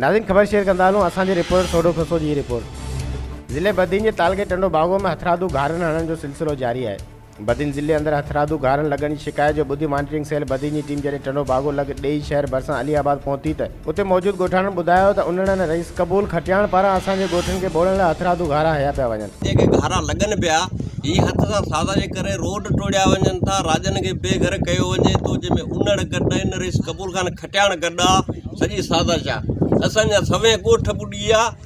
ناظرين خبر شيئر ڪندا هلون اسان جي رپورٽر سوڍو کسو جي هي رپورٽ ضلعي بدين جي تعلقي ٽنڊو باگو ۾ هٿرادو گهارن هڻڻ جو سلسلو جاري آهي بدين ضلعي اندر هٿرادو گهارن لڳڻ جي شڪايت جو ٻڌي مانيٽرنگ سيل بدين جي ٽيم جڏهن ٽنڊو باگو لڳ ڏيئي شهر ڀرسان علي آباد پهتي ته اتي موجود ڳوٺاڻن ٻڌايو ته انڙ ۽ رئيس قبول کٽياڻ پاران اسان جي ڳوٺن کي ٻوڙڻ لاء هٿرادو گهارا هنيا پيا وڃن. جيڪي گهارا لڳن پيا، هي هٿ سان سازا جي ڪري روڊ ٽوڙيا وڃن ٿا، راڄن کي بي گهر ڪيو وڃي ٿو، جنهن ۾ انڙ گڏ آهن، رئيس قبول خان کٽياڻ گڏ آ، سڄي سازش آ. اسان جا سوين ڳوٺ ٻڏي ويا.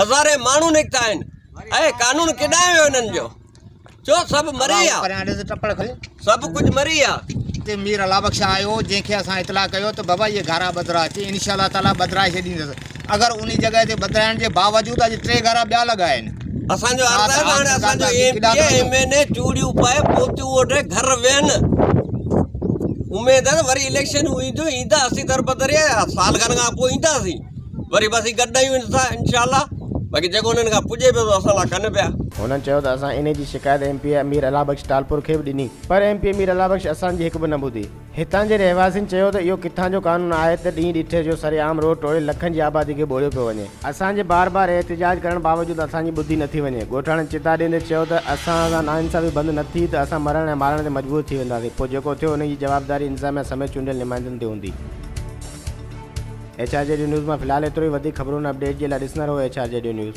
هزارين ماڻهو نڪتا آهن اهي قانون ڪيڏانهن ويو انهن جو جو سڀ مري ويا سڀ ڪجهه مري ويا اتي مير الله بخش آيو جنهن کي اسان اطلاع ڪيو ته بابا اهي گهارا ٻڌرا اچي ان شاء الله تعالیٰ ٻڌرائي ڇڏيندس اگر ان جڳهه تي ٻڌرائڻ جي باوجود اڄ ٽي گهارا ٻيا لڳا آهن اسان جو عرض آهي هاڻي اسان جو M P M N A چوڙيون پائي پوتيون اوڍي گهر ويهن اميد آهي وري اليڪشنون اينديون ايندا اسين دربدري سال کن کان پوء اينداسين وري به اسين گڏ نه آهيون ته انشاء الله باقي جيڪو انهن کان پڄي پيو ته اسان لاء ڪن پيا. هنن چيو ته اسان انهي جي شڪايت M P A Amir Allah Bakhsh Talpur کي به ڏني پر M P A Amir Allah Bakhsh اسان جي هڪ به نه ٻڌي. هتان جي رهواسين چيو ته اهو ڪٿان جو قانون آهي ته ڏينهن ڏٺي جو سر عام روڊ ٽوڙي لکن جي آبادي کي ٻوڙيو پيو وڃي. اسان جي بار بار احتجاج ڪرڻ باوجود اسان جي ٻڌي نه ٿي وڃي. ڳوٺاڻن چتاء ڏيندي چيو ته اسان سان ناانصافي بند نه ٿي ته اسان مرڻ ۽ مارڻ تي مجبور ٿي وينداسين پوء جيڪو ٿيو انهي جي جوابداري انتظاميا سميت چونڊيل نمائندن تي هوندي. ايڇ آر جي ڊيو نيوز مان فلحال ايترو ئي وڌيڪ خبرون ۽ اپڊيٽ جي لاء ڏسندا رهو ايڇ آر جي ڊيو نيوز.